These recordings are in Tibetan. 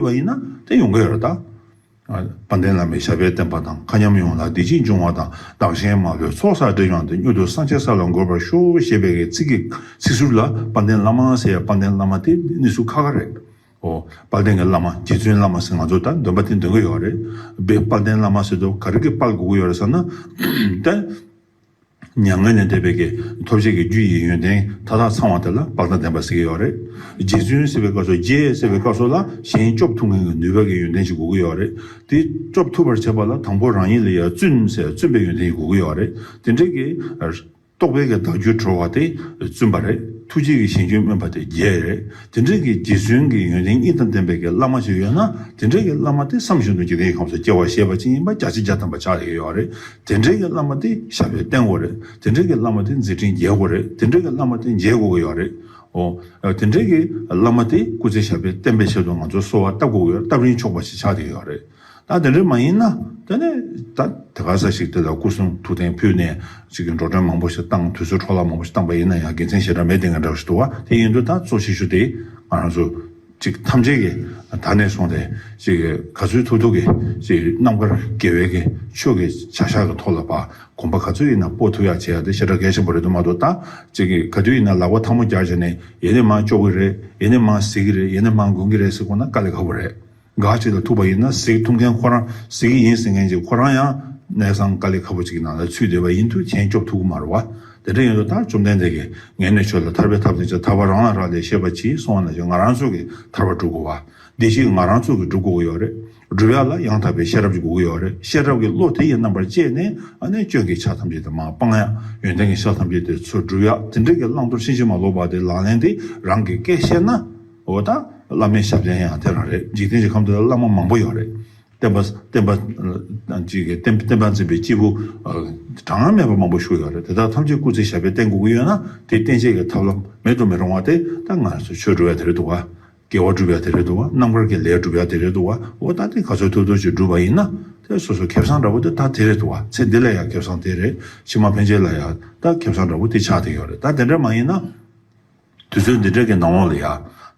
བ་ཡིན་ན་དེ་ཡོང་གི་རེད་ད། དཔལ་ལྡན་བླ་མའི་ཞབས་པད་བརྟན་པ་དང་མཁའ་མཉམ་ཡོངས་ལ་བདེ་སྐྱིད་འབྱུང་བ་དང་བདག་གཞན་མ་ལུས་ཚོགས་བསགས་འབྲས་ཀྱང་དེ་མྱུར་དུ་སངས་རྒྱས་ས་ལ་འགོད་པར་ཤོག་ཞེས་པའི་ཚིག་གི་ཚིག་ཟུར་ལ་དཔལ་ལྡན་བླ་མ་ཟེར་ཡ་དཔལ་ལྡན་བླ་མ་དེ་གནས་ཚུལ་ཁ་ཁ་རེད། ཨོ། དཔལ་ལྡན་གྱི་བླ་མ་རྗེ་བཙུན་བླ་མ་ཟེར་ང་ཚོ་ད་འདོན་པ་དེ་འདོན་གྱི་ཡོད་རེད། དཔལ་ལྡན་བླ་མ་ཟེར་དུ་ག་རེ་གི་དཔལ་དགོས་ཀྱི་ཡོད་རེད་བསམ་ན། མྱ་ངན་ལས་འདས་པའི་གེགས་ཐོབ་བྱེད་ཀྱི་རྒྱུ་ཡི་ཡོན་ཏན་མཐའ་དག་ཚང་བ་དེ་ལ་བག་ལྟ་བདེན་པ་ཟེར་གྱི་ཡོད་རེད། རྗེ་བཙུན་སེར་བའི་སྐབས་སོགས་རྗེ་སེར་བའི་སྐབས་སོགས་ལ་གཞན་སྐྱོབ་ཐུབ་མཁན་གྱི་ནུས་པ་གྱི་ཡོན་ཏན་ཞིག་དགོས་ཀྱི་ཡོད་རེད། དེ་སྐྱོབ་ཐུབ་པར་བྱེད་པ་ལ་དང་པོ་རང་ཉིད་ལ་ཡ་བཙུན་ཟེར་བཙུན་པའི་ཡོན་ཏན་ཞིག་དགོས་ཀྱི་ཡོད་རེད། དེ་འདྲའི་གེགས་རྟོགས་པའི་གེགས་བདག་རྒྱུད་གྲོལ་བ་དེ་བཙུན་པ་རེད། ཐུགས་རྗེ་གྱི་ཞིང་སྐྱོན་སྨོན་པ་དེ་རྒྱལ་རེད། དེ་འདྲའི་གེགས་རྗེ་བཙུན་གྱི་ཡོན་ཏན་གཉིས་དང་ལྡན་པའི་གེགས་བླ་མ་ཞིག་ཡོད་ན་དེ་འདྲའི་གེགས་བླ་མ་དེ་བསམ་བཞིན་དུ་འཇིག་རྟེན་གྱི་ཁམས་སུ་སྐྱེ་བ་ཤེས་པ་ཅན་ཡིན་པ་རྒྱ་ཆེ་རྒྱ་དམ་པ་ཆགས་ཡོད་རེད། དེ་འདྲེ་གི་བླ་མ་དེ་ཞབས་པད་བརྟན་གོ་རེད་དེ་འདྲེ་གི་བླ་མ་དེ་མཛད་འཕྲིན་རྒྱས་གོ་རེད་དེ་འདྲེ་གི་བླ་མ་དེ་མཇལ་དགོས་ཀྱི་ཡོད་རེད་ཨོ། དེ་འདྲེ་གི་བླ་མ་དེ་སྐུ་ཚེ་ཞབས་པད་བརྟན་པའི་ཆེད་དུ་ང་ཚོའི་གསོལ་བ་བཏབ་དགོས་ཀྱི་ཡོད་སྟབས་རིན་ཆོག་པ་ཞིག་ཆགས་ཀྱི་ཡོད་རེད། ད་དེ་འདྲེ་མ་ཡིན་ན་དེ་ནི་ད་དེ་ག་ས་ཞིག་དེ་ལ་སྐུ་གསུང་ཐུགས་རྟེན་ཕུལ་ནས་ཅིག་གི་འགྲོ་གྲོན་མང་པོ་ཞིག་བཏང་དུས་ཚོད་འཕྲོ་བརླག་མང་པོ་ཞིག་བཏང་པ་ཡིན་ན་ཡང་དགེ་མཚན་ཞེ་དྲག་མེད་དེ་འགའ་འདྲ་བ་ཞིག་འདུག་ཨ་དེ་ཡིན་དུས་ད་གཙོ་ཆེ་ཤོས་དེ་ང་རང་ཚོ། ཅིག་ཐམས་ཅད་ཀྱི་དར་ནས་བཟུང་སྟེ། ཅིག་ག་ཚོད་ཐུག་ཐུག་གིས། ཅིག་རྣམ་དཀར་རྒྱལ་བའི་གི་ཆོས་ཀྱི་བྱ་གཞག་གི་ཐོག་ལ་བ་གོམ་པ་ག་ཚོད་ཡིན་ན་སྤོ་ཐུབ་ཡག་བྱེད་ཡག་དེ་ཤ་ཁྲག་གལ་ཆེན་པོ་རེད་དུ་མ་དོ་ད། ཅིག་ག་དུས་ཡིན་ན་ལག་པ་ཐང་མོ་རྒྱག་བྱས་ནས་ཡེ་ནས་མང་སྐྱོག་གི་རེད་ཡེ་ནས་མང་གཟིགས་གི་རེད་ཡེ་ནས་མང་དགོན་གི་རེད་ཟེར་དགོངས་ན་དཀའ་ལས་ཁ་པོ་རེད། ག་ཅིག་ལ་ཐུག་པ་ཡིན་ན་གཟིགས་ཐུབ་མཁན་ཁོ་རང་གཟིགས་གི་ཡིན་ཟེར་མཁན་ཅིག་ཁོ་རང་ཡང་གནས་ཚང་དཀའ་ལས་ཁ་པོ་ཅིག་གི་ནང་ལ་ཚུད་བསྡད་པ་ཡིན་དུས་མཁྱེན་སྐྱོབ་ཐུབ་གི་མ་རེད་བ། དེ་འདྲ་ཡིན་དུས་ད་བཅོམ་ལྡན་འདས་ཀྱིས་ངས་ནི་ཁྱོད་ལ་ཐར་པའི་ཐབས་དེ་ཅི་ཐར་བ་རང་ལ་རག་ལས་ཤེས་པ་གྱིས་གསུང་བ་ན་ཅི་ང་རང་ཚོད་ཀྱིས་ཐར་བ་སྒྲུབ་དགོས་བ། འདི་ཅི་ང་རང་ཚོད་ཀྱིས་སྒྲུབ་དགོས་ཀྱི་ཡོད་རེད། སྒྲུབ་ཡ་ལ་ཡང་དག་པའི་ཤེས་རབ་ཀྱི་དགོས་ཀྱི་ཡོད་རེད་ཤེས་རབ་ཀྱི་བློ་དེ་ཡི་རྣམ་པར་བཅད་ནས་ནི་སྐྱོན་གྱི་ཆ་ཐམས་ཅད་དེ་མ་སྤང་ཡ་ཡོན་ཏན་གྱི་ཤ་ཐམས་ཅད་དེ་ཚོ་སྒྲུབ་ཡ་དེ་འདྲ་གྱི་བླང་དོར་ཕྱིན་ཅི་མ་ལོག་པ་དེ་ལག་ལེན་དེ་རང་གི་སྐད་བཤད་ན་འོ་ད་བླ་མའི་ཞབས་བརྟན་ཡང་དེ་རང་རེད་འཇིག་རྟེན་གྱི་ཁམས་འདི་ལ་བླ་མ་མང་པོ་ཡོད་རེད། བསྟན་པ། བསྟན་པ། བསྟན་པ་འཛིན་པའི་སྐྱེས་བུ་གྲངས་སྔར་མེད་པ་མང་པོ་ཞུགས་ཡོད་རེད་དེ་དག་ཐམས་ཅད་སྐུ་ཚེ་ཞབས་པད་བརྟན་དགོས་ཀྱི་ཡོད་ན་དེ་བསྟན་བྱེད་ཀྱི་ཐབས་ལམ་མེད་དུ་མི་རུང་བ་དེ་ད་སྔ་སོ་ཆོས་སྒྲུབ་ཡ་དེ་རེད་འདུག་བ། དགེ་བ་སྒྲུབ་ཡ་དེ་རེད་འདུག་བ་རྣམ་དཀར་གྱི་ལས་སྒྲུབ་ཡ་དེ་རེད་འདུག་བ་འོ་ད་དེ་ག་ཚོད་ཐུབ་ཐུབ་ཅིག་སྒྲུབ་པ་ཡིན་ན་དེ་སོ་སོ་ཁེབས་བཟང་འདྲ་བོ་དེ་ད་དེ་རེད་འདུག་བ་ཚེ་འདི་ལ་ཡང་ཁེབས་བཟང་དེ་རེད་ཕྱི་མ་ཕན་ཆད་ལ་ཡང་ད་ཁེབས་བཟང་འདྲ་བོ་དེ་ཆགས་དེ་ཡོད་རེད་ད་དེ་འདྲ་མ་ཡིན་ན། དུས་ཚོད་འདི་འདྲ་གི་ནང་འོག་ལ་ཡ།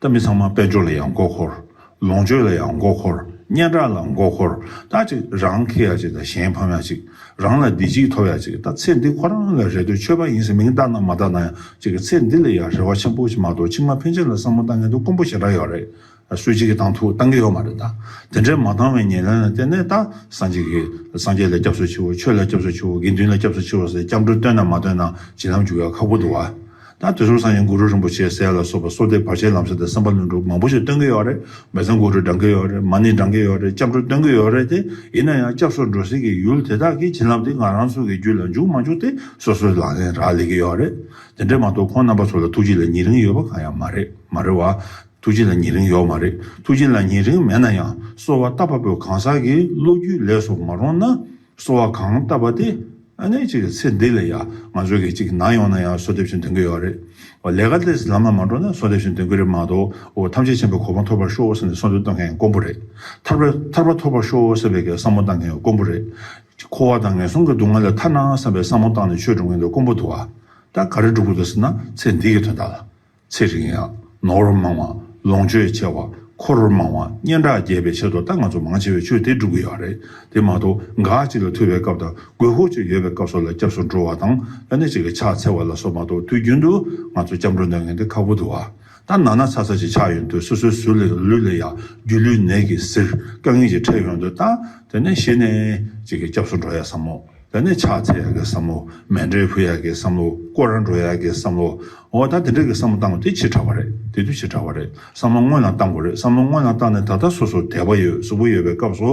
ད་མི་ཚང་མ་དཔལ་འབྱོར་ལ་ཡང་མགོ་འཁོར། ལོངས་སྤྱོད་ལ་ཡང་མགོ་འཁོར། སྙན་གྲགས་ལ་མགོ་འཁོར། ད་ཅིག་རང་ཁེ་ཡ་ཅིག་ད་གཞན་ཕམ་ཡ་ཅིག། རང་ལ་བདེ་སྐྱིད་ཐོབ་ཡ་ཅིག་ད་ཚེ་འདི་ཁོ་རང་ལ་རེ་ལྟོས་ཆོས་པ་ཡིན་ཟེར་མིང་བཏགས་ན་མ་བཏགས་ན་ཡང་ཅིག་གི་ཚེ་འདི་ལ་ཡ་རེ་བ་ཆེན་པོ་ཞིག་མ་གཏོགས་ཕྱི་མ་ཕན་ཆད་ལ་བསམ་བློ་བཏང་མཁན་དུ་དཀོན་པོ་ཞེ་དྲག་ཡོད་རེད། སུ་གཅིག་གིས་བཏང་ཐུག་བཏང་གི་ཡོད་མ་རེད་ད། དེ་འདྲའི་མ་བཏང་བའི་ཉེར་ལེན་ལ་བརྟེན་ནས་ད་སངས་རྒྱས་ཀྱི་སངས་རྒྱས་ལ་སྐྱབས་སུ་མཆིའོ་ཆོས་ལ་སྐྱབས་སུ་མཆིའོ་དགེ་འདུན་ལ་སྐྱབས་སུ་མཆིའོ་ཟེར་སྐྱབས་འགྲོ་བསྟོད་ན་མ་བསྟོད་ན་བྱིན་རླབས་འཇུག་ཡ་ཁག་པོ་འདུག་ད་དེ་ཚོར་སངས་རྒྱས་གུ་རུ་རིན་པོ་ཆེ་གསལ་ལ་སོགས་པ་སོག་སྡེ་བར་ཆད་ལམ་སེལ་དང་སེམས་དཔའ་ལྷུན་གྲུབ་མང་པོ་ཞིག་བསྟོན་གྱི་ཡོད་རེད་མེད་ཙང་གུ་རུ་འབྲང་གི་ཡོད་རེད་མ་ནི་འབྲང་གི་ཡོད་རེད་སྐྱབས་འགྲོ་བསྟོན་གྱི་ཡོད་རེད་དེ་ཡིན་ན་ཡང་སྐྱབས་སུ་འགྲོ་སྲིད་ཀྱི་ཡུལ་དེ་དག་གི་བྱིན་རླབས་དེ་ང་རང་ཚོ་གི་རྒྱུད་ལ་འཇུག་མ་འཇུག་དེ་སོ་སོའི་ལག་ལེན་རག་ལས་ཀྱི་ཡོད་རེད་དེ་འདྲས་མ་གཏོགས་ཁོང་རྣམ་པ་ཚོ་ལ་ཐུགས་རྗེ་ལ་ཉེ་རིང་ཡོད་པ་གང་ཡང་མ་རེད་མ་རེད་བ། ཐུགས་རྗེ་ལ་ཉེ་རིང་ཡོག་མ་རེད་ཐུགས་རྗེ་ལ་ཉེ་རིང་མེད་ན་ཡང་གསོལ་བ་བཏབ་པ་པོའི་གང་ཟག་གི་བློ་རྒྱུས་ལས་སུ་མ་རུང་ན་གསོལ་བ་གང་བཏབ་པ་དེ་ནས་ཅིག་ཚེ་འདི་ལ་ཡང་ང་ཚོ་གི་ཅིག་ནང་ཡོང་ན་ཡང་གསོལ་འདེབས་ཆེན་འདོན་གི་ཡོག་རེད་ལས་ཀ་དེ་ལམ་ལ་མ་འགྲོ་ན་གསོལ་འདེབས་ཆེན་འདོན་གི་རེད་མ་གཏོགས་ཐམས་ཅད་ཆེན་པོའི་གོ་འཕང་ཐོབ་པར་ཤོག་ཟེར་ནས་གསོལ་འདེབས་གཏོང་མཁན་དཀོན་པོ་རེད་ཐར་པ་ཐོབ་པར་ཤོག་ཟེར་བའི་གི་བསམ་བློ་གཏང་མཁན་དཀོན་པོ་རེད་འཁོར་བ་དང་ངན་སོང་གི་སྡུག་བསྔལ་ལས་ཐར་ན་བསམ་པའི་བསམ་བློ་བཏང་ནས་ཆོས་སྒྲུབ་མཁན་དེ་དཀོན་པོ་འདུག་ད་ག་རེ་སྒྲུབ་དགོས་འདུག་ཟེར་ན་ཚེ་འདི་གི་དོན་དག་ལ། ཚེ་རིང་ཡག། ནོར་བུ་མང་བ། ལོངས་སྤྱོད་ཆེ་བ། འཁོར་བུ་མང་བ། སྙན་གྲགས་རྒྱས་པའི་ཆེད་དུ་ད་ང་ཚོ་མང་ཆེ་བས་ཆོས་དེ་སྒྲུབ་གི་ཡོད་རེད། དེ་མ་གཏོགས་འགའ་ཅིག་ལ་ཐུ་བའི་སྐབས་དང་དགོས་ཤོག་ཅིག་ཡོད་པའི་སྐབས་སོགས་ལ་སྐྱབས་སུ་འགྲོ་བ་དང་ལ་ནས་ཅིག་གི་ཕྱག་འཚལ་བ་ལ་སོགས་མ་གཏོགས་དུས་རྒྱུན་དུ་ང་ཚོ་སྐྱབས་འགྲོ་འདོན་མཁན་དེ་ཁག་པོ་འདུག་ཨ། ད་ན་ན་ཚ་ཚ་ཅིག་ཆགས་ཡོང་དུས་སོ་སོའི་ཟུར་ལས་ལུས་ལས་ཡ་རྒྱུས་ལུས་ནད་ཀྱིས་གཟིར་དཀའ་ངལ་ཅིག་འཕྲད་ཡོང་དུས་ད་དེ་ནས་གཞི་ནས་ཅིག་གི་སྐྱབས་སུ་འགྲོ་ཡ་བསམ་མོ། ད་ནི་ཕྱག་འཚལ་ཡག་གི་བསམ་བློ། མལ་འབྲེལ་ཕུལ་ཡག་གི་བསམ་བློ། སྐོར་ར་འགྲོ་ཡག་གི་བསམ་བློ། འོ་ད་དེ་འདྲ་གི་བསམ་བློ་བཏང་བ་དེ་ཕྱིར་དྲག་པ་རེད། དེ་དུས་ཕྱིར་དྲག་པ་རེད། བསམ་བློ་སྔོན་ལ་བཏང་དགོས་རེད་བསམ་བློ་སྔོན་ལ་བཏང་ནས་ད་ལྟ་སོ་སོར་དད་པ་ཡོད་གཟུ་བོ་ཡོད་པའི་སྐབས་སུ།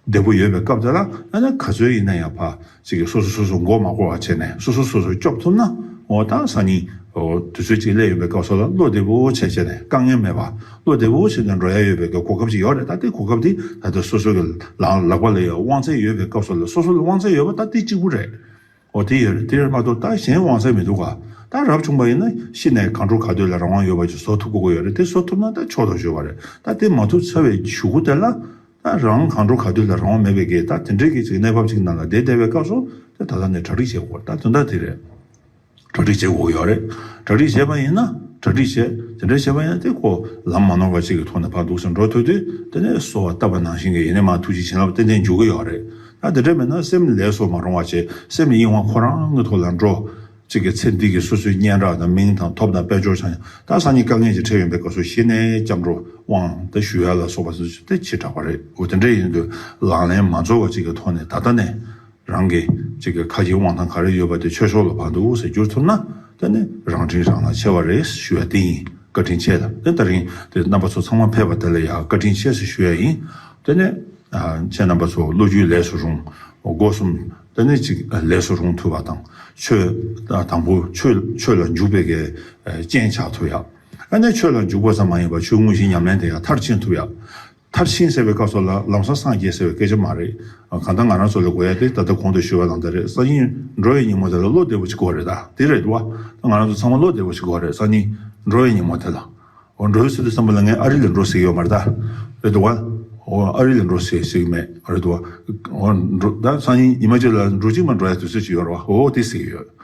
བདེ་པོ་ཡོད་པའི་སྐབས་དེ་ལ་ཨ་ན་ག་ཚོད་ཡིན་ན་ཡང་ཕ། ཅིག་གིས་སོ་སོ་སོ་སོར་མགོ་མ་སྐོར་བ་བྱས་ནས་སོ་སོ་སོ་སོར་སྐྱོབ་ཐུབ་ན། འོ་ད་སང་ཉིན། དུས་ཚོད་ཅིག་སླེབས་ཡོང་པའི་སྐབས་སོགས་ལ་བློ་བདེ་པོ་ཆེ་བྱས་ནས་དཀའ་ངལ་མེད་པ། བློ་བདེ་བོ་ཞིག་དང་འགྲོ་ཡ་ཡོད་པའི་གོ་སྐབས་ཤིག་ཡོད་རེད་ད་དེ་གོ་སྐབས་དེ་ད་ལྟ་སོ་སོ་གི་ལག་པ་ལ་ཡོད་དབང་ཚད་ཡོད་པའི་སྐབས་སོགས་ལ་སོ་སོ་ལ་དབང་ཚད་ཡོད་པ་ད་དེ་གཅིག་པུ་རེད། འོ་དེ་ཡོད་རེད་དེར་མ་གཏོགས་ད་གཞན་དབང་ཚད་མི་འདུག་ག་ད་རབ་བྱུང་པ་ཡིན་ན་ཤི་ནས་གང་འགྲོ་ག་སྡོད་ལ་རང་དབང་ཡོད་པ་ཅིག་བཟོ་ཐུབ་དགོས་ཀྱི་ཡོད་རེད་དེ་བཟོ་ཐུབ་ན་ད་ཆོག་ཐོག་ཞུ་བ་རེད་ད་དེ་མ་ཐུབ་ཚར་བའི་ཞུ་གུ་དེ་ལ་ད་རང་གང་འགྲོ་ག་སྡོད་ལ་རང་དབང་མེད་པའི་གེ་ད་དེ་འདྲའི་གེ་ཅིག་གི་གནས་བབ་ཅིག་ནང་ལ་བསྡད་བསྡད་པའི་སྐབས་སོ་ད་ད་ལྟ་ནས་གྲ་སྒྲིག་བྱེད་དགོས་རེད་ད་དོན་དག་དེ་རེད། གྲ་སྒྲིག་བྱེད་དགོས་ཀྱི་ཡོད་རེད། གྲ་སྒྲིག་བྱས་པ་ཡིན་ན་གྲ་སྒྲིག་བྱས། དེ་འདྲ་བྱས་པ་ཡིན་ན་དེ་ཁོ་ལམ་མ་ནོར་བ་ཅིག་གི་ཐོག་ནས་ཕར་འདུག་ཟེར་འགྲོ་ཐུག་དུས་དེ་ནས་སོ་བ་བཏབ་པ་ནང་བཞིན་གྱི་ཡིན་ནས་མ་ཐུག་ཅིག་བྱིན་རླབས་ཏན་ཏན་འཇུག་གི་ཡོད་རེད། ད་དེ་འདྲ་མིན་ན་སེམས་ལས་སོ་མ་རུང་བ་ཅིག་སེམས་གཡེང་བ་ཁོ་རང་གི་ཐོག་ལ་འགྲོ། གཅིག་གི་ཚེ་འདི་གི་སོ་སོའི་སྙན་གྲགས་དང་མིང་དང་ཐོབ་དང་དཔལ་འབྱོར་ཆང་དང་ས་གཉིས་དཀའ་ངལ་གྱིས་ཁྲེལ་ཡོན་པའི་སྐབས་སུ་ཤི་ནས་སྐྱབས་འགྲོ་དབང་དང་ཞུ་ཡ་ལ་སོགས་པ་ཟེར་ཚུལ་དེ་ཕྱིར་བསྒྲགས་པ་རེད་འོ་དེ་འདྲ་ཡིན་དུས་ལག་ལེན་མ་འཛོལ་བ་ཅིག་གི་ཐོག་ནས་ད་ལྟ་ནས་རང་གི་གཅིག་གི་ཁ་ཆེའི་དབང་ཐང་ག་རེ་ཡོད་པ་དེ་ཆོས་ཕྱོགས་ལ་བར་དུ་དབུགས་ཟད་འགྱུར་ཐུབ་ན་དེ་ནི་རང་དྲིན་རང་ལ་ཆེ་བ་རེད་ཞུ་ཡ་དེ་ཡིན་བཀའ་དྲིན་ཆེ་ལ་དེ་ལྟར་རིང་དེ་རྣམ་པ་ཚོ་ཚང་མ་ཕེབས་པ་དེ་ལ་ཡང་བཀའ་དྲིན་ཆེ་ཞེས་ཞུ་ཡ་ཡིན་དེ་ནས་ཁྱེད་རྣམ་པ་ཚོ་བློ་རྒྱུས་ལས་སུ་རུང་སྒོ་གསུམ་དེ་ནས་གཅིག་ལས་སུ་རུང་ཐུབ་པ་དང་ཆོས་དང་པོ་ཆོས་ལ་འཇུག་པའི་གལ་རྐྱེན་ཆགས་ཐུབ་ཡ་དེ་ནས་ཆོས་ལ་འཇུག་པ་ཙམ་མ་ཡིན་པར་ཆོས་དངོས་གཞི་ཉམས་ལེན་དེ་ཡང་མཐར་ཕྱིན་ཐུབ་ཡ། མཐར་ཕྱིན་ཟེར་བའི་སྐབས་སོགས་ལ་ལམ་སང་སངས་རྒྱས་ཟེར་བའི་སྐད་ཆ་མ་རེད། གང་ལྟར་ང་རང་ཚོ་ལ་དགོས་ཡ་དེ་ད་ལྟ་གོང་དུ་ཞུས་བ་ལ་འདི་རེད་གསང་སྙིང། འགྲོ་བའི་ཉིན་མོ་དེ་ལ་བློ་བདེ་བོ་ཅིག་དགོས་རེད་ད་དེ་རེད་བ། ད་ང་རང་ཚོ་ཚང་མ་བློ་བདེ་བོ་ཅིག་དགོས་རེད་གསང་སྙིང། འགྲོ་བའི་ཉིན་མོ་དེ་ལ། འོ་འགྲོ་བའི་ཚུལ་དུ་བསམ་པ་ལ་ངས་ཨ་རི་ལ་འགྲོ་ཟེར་གྱི་ཡོད་མ་རེད་ད། རེད་བ། འོ་ཨ་རི་ལ་འགྲོ་ཟེར་གྱི་མེད་རེད་བ། འོ་འགྲོ་ད་གསང་སྙིང་ཉི་མ་གཅིག་ལ་འགྲོ་གཅིག་མ་འགྲོ་ཡ་དུས་ཚོད་ཅིག་ཡོད་རེད་བ་འོ་དེ་ཟེར་གྱི་ཡོད།